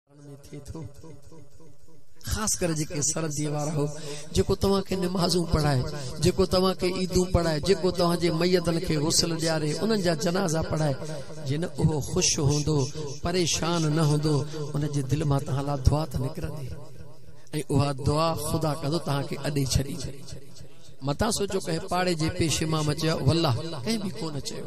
ڪرڻ ۾ ٿئي ٿو خاص ڪري جيڪي سردي وارا هو جيڪو توهان کي نمازون پڙهائي جيڪو توهان کي عيدون پڙهائي جيڪو توهان جي ميتن کي غسل ڏياري انهن جا جنازا پڙهائي جي نه اهو خوش هوندو پريشان نه هوندو ان جي دل مان توهان لا دعا ته نڪرندي ۽ اها دعا خدا ڪندو توهان کي اڏي ڇڏي متان سوچو ڪنهن پاڙي جي پيشي مان مچيا والله ڪنهن به ڪونه چيو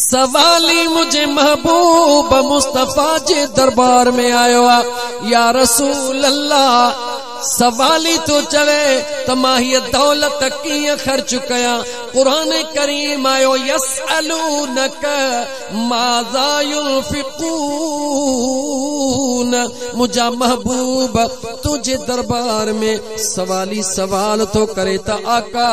سوالي منهنجي محبوب مصطفي جي دربار ۾ آيو آ يا رسول الله سوالي ٿو چوي ته مان هي دولت ڪيئن خرچ ڪيان قرآن ڪريم آيو يسألونك ماذا ينفقون منهنجا محبوب تنهنجي دربار ۾ سوالي سوال ٿو ڪري ته آقا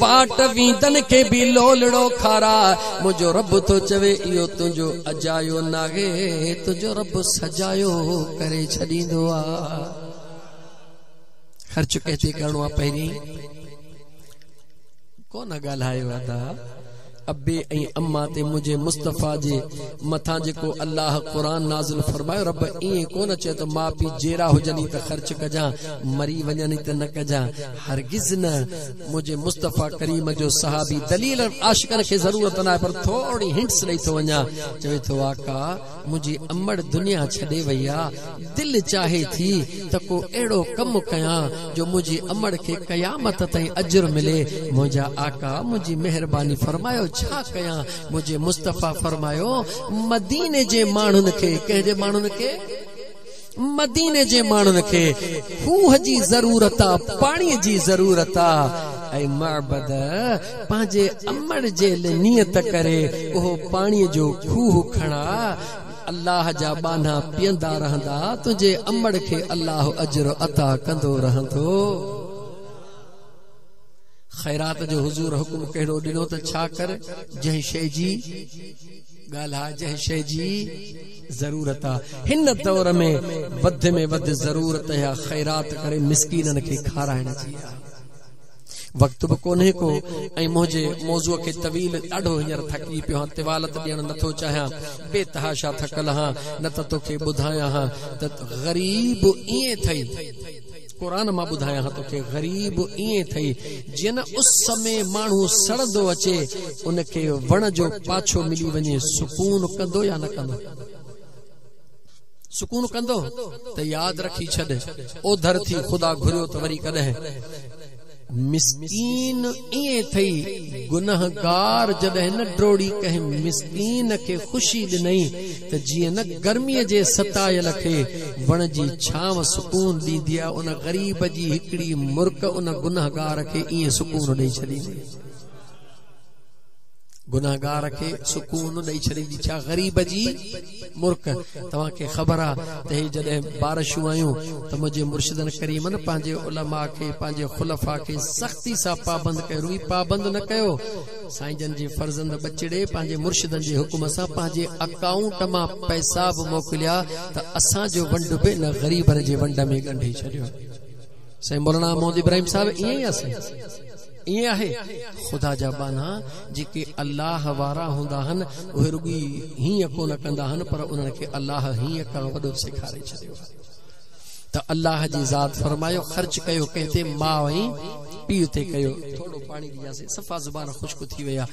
واٽ ويندن کي به لولڙو کارا، منهنجو رب ٿو چوي اهو تنهنجو اجايو ناهي، تنهنجو رب سجايو ڪري ڇڏيندو آ. خرچ ڪنهن تي ڪرڻو آ پهرين ڪو نه ڳالهايو ادا. ابي ۽ اما تي منهنجي مصطفيٰ جي مٿان جيڪو الله قرآن نازل فرمايو رب ائين ڪونه چيو ته ماء پيء جيئرا هجن ئي ته خرچ ڪجان مري وڃن ئي ته نه ڪجان هرگز نه منهنجي مصطفيٰ ڪريم جو صحابي دليل عاشقن کي ضرورت ناهي پر ٿورڙي هنٽس ڏئي ٿو وڃان چوي ٿو آقا منهنجي امڙ دنيا ڇڏي وئي آ، دل چاهي ٿي ته ڪو اهڙو ڪم ڪيان جو منهنجي امڙ کي قيامت تائين اجر ملي، منهنجا آقا منهنجي مهرباني فرمايو ڇا ڪيان، منهنجي مصطفيٰ فرمايو مديني جي ماڻهن کي، ڪنهن جي ماڻهن کي؟ مديني جي ماڻهن کي کوهه جي ضرورت آ، پاڻي جي ضرورت آ ۽ معبد پنهنجي امڙ جي نيت ڪري اهو پاڻي جو کوهه کڻا الله جا ٻانها پيئندا رهندا، تنهنجي امڙ کي الله اجر عطا ڪندو رهندو. خيرات جو حضور حڪم ڪهڙو ڏنو ته ڇا ڪر جنهن شيء جي. ڳالهه آ جنهن شيء جي ضرورت آ هن دور ۾ وڌ ۾ وڌ ضرورت اها خيرات ڪري مسڪينن کي کارائڻ جي آ وقت به ڪونهي ڪو ۽ منهنجي موضوع کي طويل ڏاڍو هينئر ٿڪي پيو هان طوالت ڏيڻ نٿو چاهيان بي تحاشا ٿڪل هان نه ته توکي ٻڌايان هان ته غريب ائين ٿئي قرآن مان ٻڌايانه توکي غريب ائين ٿئي جيئن اس ۾ ماڻهو سڙندو اچي ان کي وڻ جو پاڇو ملي وڃي سڪون ڪندو يا نه ڪندو سڪون ڪندو ته ياد رکي ڇڏ اوڌر ٿي خدا گهريو ته وري ڪڏهن مسڪين ائين ٿئي گنهگار جڏهن نه ڊوڙي ڪنهن مسڪين کي خوشي ڏنئي ته جيئن نه گرمي جي ستايل کي وڻ جي ڇانو سڪون ڏيندي آهي ان غريب جي هڪڙي مرڪ ان گنهگار کي ائين سڪون ڏئي ڇڏيندي گنهگار کي سڪون ڏئي ڇڏيندي ڇا غريب جي مرڪ توهان کي خبر آ ته هي جڏهن بارشون آيون ته منهنجي مرشدن ڪريمن پنهنجي علماء کي پنهنجي خلفاء کي سختي سان پابند ڪيو روئي پابند نه ڪيو سائين جن جي فرزند ٻچڙي پنهنجي مرشدن جي حڪم سان پنهنجي اڪائونٽ مان پئسا به موڪليا ته اسان جو ونڊ به ان غريبن جي ونڊ ۾ ڳنڍي ڇڏيو سائين مولانا محمد ابراهيم صاحب ائين ئي آ سائين ائين آهي، خدا جا ٻانها جيڪي الله وارا هوندا آهن، اهي رڳي هيئن ڪونه ڪندا آهن پر انهن کي الله هيئن ڪرڻ وڏو سيکاري ڇڏيو آهي ته الله جي ذات فرمايو خرچ ڪيو ڪنهن تي ماء ۽ پيء تي ڪيو ٿورڙو پاڻي ڏجاسين صفا زبان خشڪ ٿي وئي آهي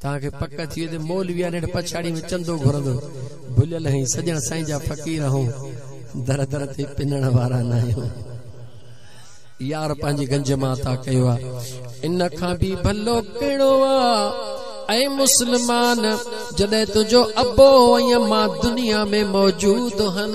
توهان کي پڪ ٿئي ته مولوي آن هيٺ پڇاڙيء ۾ چندو گهرندو. ڀليل آهين، سڄڻ سائين جا فقير آهون، در در تي پنڻ وارا ناهيون. يار پنهنجي گنج مان عطا ڪيو آ. ان کان به ڀلو ڪهڙو آ؟ اي مسلمان! جڏهن تنهنجو ابو ۽ امان دنيا ۾ موجود هن.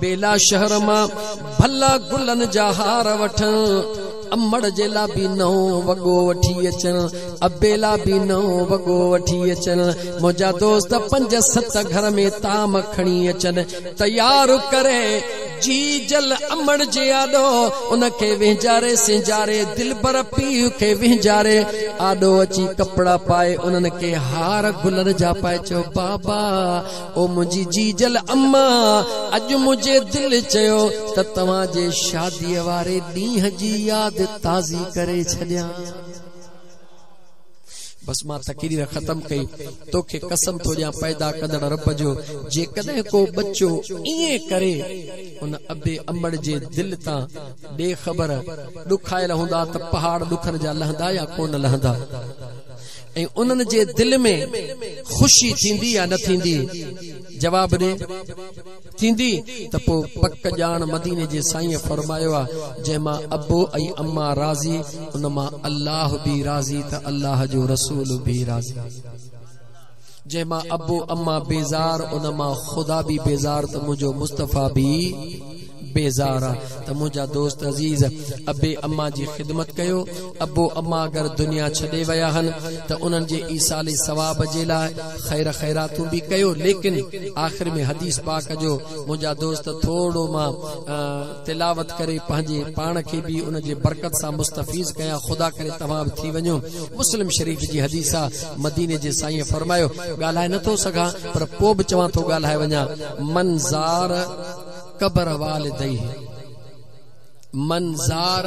بيلا شهر مان ڀلا گلن جا هار وٺن، امڙ جي لا به نئون وڳو وٺي اچن، ابي لا به نئون وڳو وٺي اچن، منهنجا دوست پنج ست گهر ۾ طعام کڻي اچن، تيار ڪري جي جل امڙ جي آڏو ان کي وهنجاري سينجاري، دلبر پيء کي وهنجاري آڏو اچي ڪپڙا پائي انهن کي هار گلن جا پائي چيو بابا! او منهنجي جيجل اما اڄ منهنجي دل چيو ته توهان جي شادي واري ڏينهن جي ياد تازي ڪري ڇڏيان بس مان تقرير ختم ڪئي توکي قسم ٿو ڏيان پيدا ڪندڙ رب جو جيڪڏهن ڪو ٻچو ائين ڪري ان ابي امڙ جي دل تان ڏي خبر ڏکايل هوندا ته پهاڙ ڏکن جا لهندا يا ڪونه لهندا ۽ انهن جي دل ۾ خوشي ٿيندي يا نه ٿيندي؟ جواب ڏي، ٿيندي، ته پوء پڪ ڄاڻ مديني جي سائينء فرمايو آهي، جنهن مان ابو ۽ اما راضي، ان مان الله به راضي ته الله جو رسول به راضي. جنهن مان ابو اما بيزار ان مان خدا به بيزار ته منهنجو مصطفيٰ به بيزار آ ته منهنجا دوست عزيز ابي اما جي خدمت ڪيو ابو اما اگر دنيا ڇڏي ويا هن ته انهن جي ايصال ثواب جي لاء خير خيراتون به ڪيو ليڪن آخر ۾ حديث پاڪ جو منهنجا دوست ٿورڙو مان تلاوت ڪري پنهنجي پاڻ کي به ان جي برڪت سان مستفيض ڪيان خدا ڪري توهان به ٿي وڃو مسلم شريف جي حديث آ مديني جي سائين فرمايو ڳالهائي نه ٿو سگهان پر پو به چوان ٿو ڳالهائي وڃان من زار قبر والديه من زار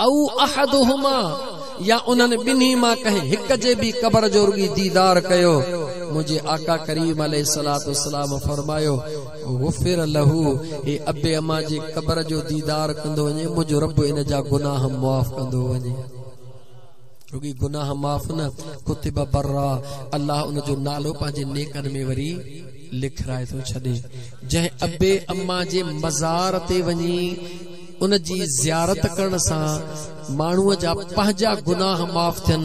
او احدهما يا انهن ٻنهي مان ڪنهن هڪ جي به قبر جو رڳي ديدار ڪيو منهنجي آقا ڪريم عليه الصلوة والسلام فرمايو غفر له هي ابي امان جي قبر جو ديدار ڪندو وڃي منهنجو رب ان جا گناهه معاف ڪندو وڃي رڳي گناهه معاف نه ڪتب برا الله ان جو نالو پنهنجي نيڪن ۾ وري لکرائي ٿو ڇڏي جنهن ابي اما جي مزار تي وڃي ان جي زيارت ڪرڻ سان ماڻهوء جا پنهنجا گناهه معاف ٿين،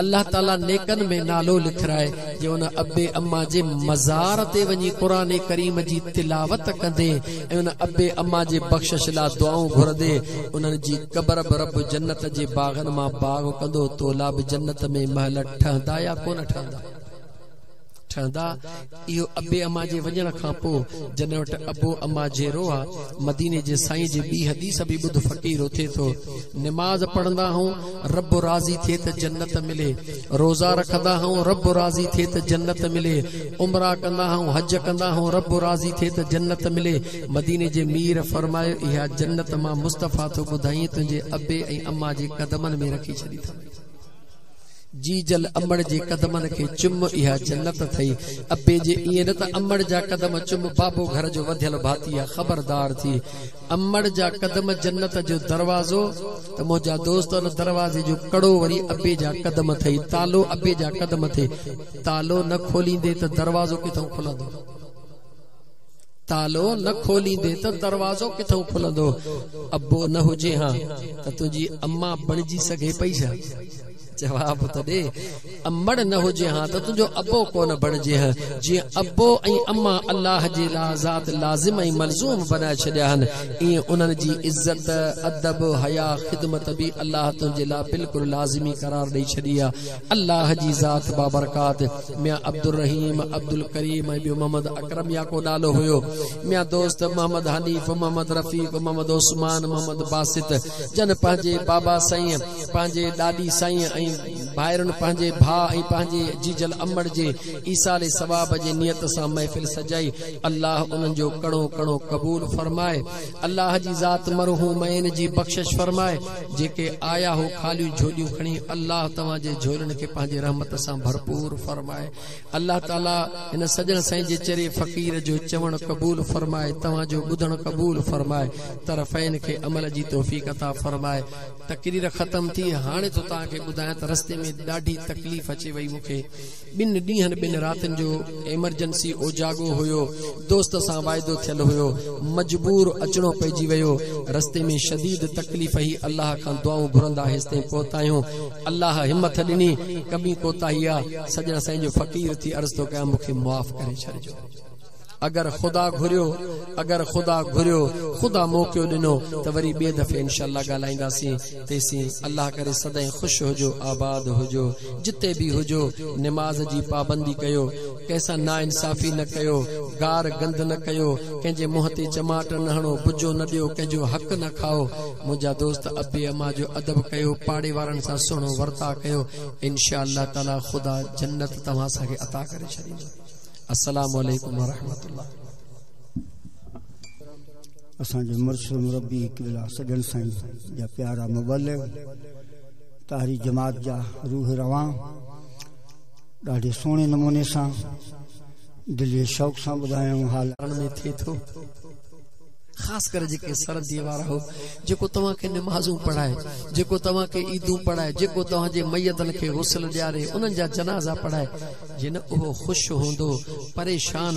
الله تعاليٰ نيڪن ۾ نالو لکرائي، جي ان اب اما جي مزار تي وڃي قرآن ڪريم جي تلاوت ڪندي ۽ ان اب اما جي بخشش لا دعائون گهرندي، انهن جي قبر به رب جنت جي باغن مان باغ ڪندو، تولا به جنت ۾ محل ٺهندا يا ڪونه ٺهندا. ٺهندا، اهو ابي اما جي وڃڻ کان پوء جڏهن وٽ ابو اما جيرو آ، مديني جي سائين جي ٻي حديث به ٻڌ فقير اٿي ٿو، نماز پڙهندا هئون رب راضي ٿئي ته جنت ملي، روزا رکندا هئون رب راضي ٿئي ته جنت ملي، عمره ڪندا هئون حج ڪندا هئون رب راضي ٿئي ته جنت ملي، مديني جي مير فرمايو اها جنت مان مصطفيٰ ٿو ٻڌائين تنهنجي ابي ۽ اما جي قدمن ۾ رکي ڇڏي ٿم. جيجل امڙ جي قدمن کي چم اها جنت ٿئي ابي جي ائين نه ته امڙ جا قدم چم بابو گهر جو وڌيل ڀاتي آ خبردار ٿي امڙ جا قدم جنت جو دروازو ته منهنجا دوست ان دروازي جو ڪڙو وري ابي جا قدم ٿئي تالو ابي جا قدم ٿئي تالو نه کوليندي ته دروازو ڪٿئون کلندو. تالو نه کوليندين ته دروازو ڪٿئون کلندو؟ ابو نه هجي هان ته تنهنجي اما بڻجي سگهي پئي ڇا؟ جواب ته ڏي. امڙ نه هجي هان ته تنهنجو ابو ڪونه بڻجي هان. جيئن ابو ۽ اما الله جي لا ذات لازم ۽ ملزوم بنائي ڇڏيا هن، ايئن انهن جي عزت، ادب، حيا، خدمت به الله تنهنجي لا بلڪل لازمي قرار ڏئي ڇڏي آ. الله جي ذات بابرڪات ميان عبدالرحيم، عبدالڪريم ۽ ٻيو محمد اڪرم يا ڪو نالو هيو. ميان دوست، محمد حنيف، محمد رفيق، محمد عثمان، محمد باسط جن پنهنجي بابا سائين، پنهنجي ڏاڏي سائين ۽ ڀائرن پنهنجي ڀاء ۽ پنهنجي جيجل امڙ جي ايصال ثواب جي نيت سان محفل سجائي الله انهن جو ڪڻو ڪڻو قبول فرمائي الله جي ذات مرحومين جي بخشش فرمائي. جيڪي آيا هو خاليون جهوليون کڻي الله توهان جي جهولن کي پنهنجي رحمت سان ڀرپور فرمائي الله تعالي هن سڄڻ سائين جي چري فقير جو چوڻ قبول فرمائي توهان جو ٻڌڻ قبول فرمائي طرفين کي عمل جي توفيق عطا فرمائي تقرير ختم ٿي هاڻي ٿو توهان کي ٻڌايان ته رستي ۾ ڏاڍي تڪليف اچي وئي مون کي ٻن ڏينهن ٻن راتين جو ايمرجنسي اوجاڳو هيو، دوست سان واعدو ٿيل هيو، مجبور اچڻو پئجي ويو، رستي ۾ شديد تڪليف هي الله کان دعائون گهرندا هيستائين پهتايون، الله همٿ ڏني، ڪٻي ڪوتاهي آ، سڄڻ سائين جو فقير ٿي عرض ٿو ڪيان مون کي معاف ڪري ڇڏجو. اگر خدا گهريو اگر خدا گهريو خدا موقعو ڏنو ته وري ٻي دفعي انشاء الله ڳالهائينداسين تيسين الله ڪري سدائين خوش هجو آباد هجو جتي به هجو نماز جي پابندي ڪيو ڪنهن سان ناانصافي نه ڪيو گار گند نه ڪيو ڪنهن جي منهن تي چماٽ نه هڻو بجو نه ڏيو ڪنهن جو حق نه کائو منهنجا دوست ابي اما جو ادب ڪيو پاڙي وارن سان سهڻو ورتاء ڪيو انشاء الله تعالي خدا جنت توهان سان کي عطا ڪري ڇڏيندو. السلام عليڪم ورحمة الله. اسان جو مرشد مربي قبله سڄڻ سائين جا پيارا مبلغ طاهري جماعت جا روح روان ڏاڍي سهڻي نموني سان دلي شوق سان ٻڌايائون حال ۾ ٿي ٿو خاص ڪري جيڪي سرنديء وارا هو، جيڪو توهان کي نمازون پڙهائي، جيڪو توهان کي عيدون پڙهائي، جيڪو توهان جي ميتن کي غسل ڏياري، انهن جا جنازا پڙهائي، جن اهو خوش هوندو، پريشان.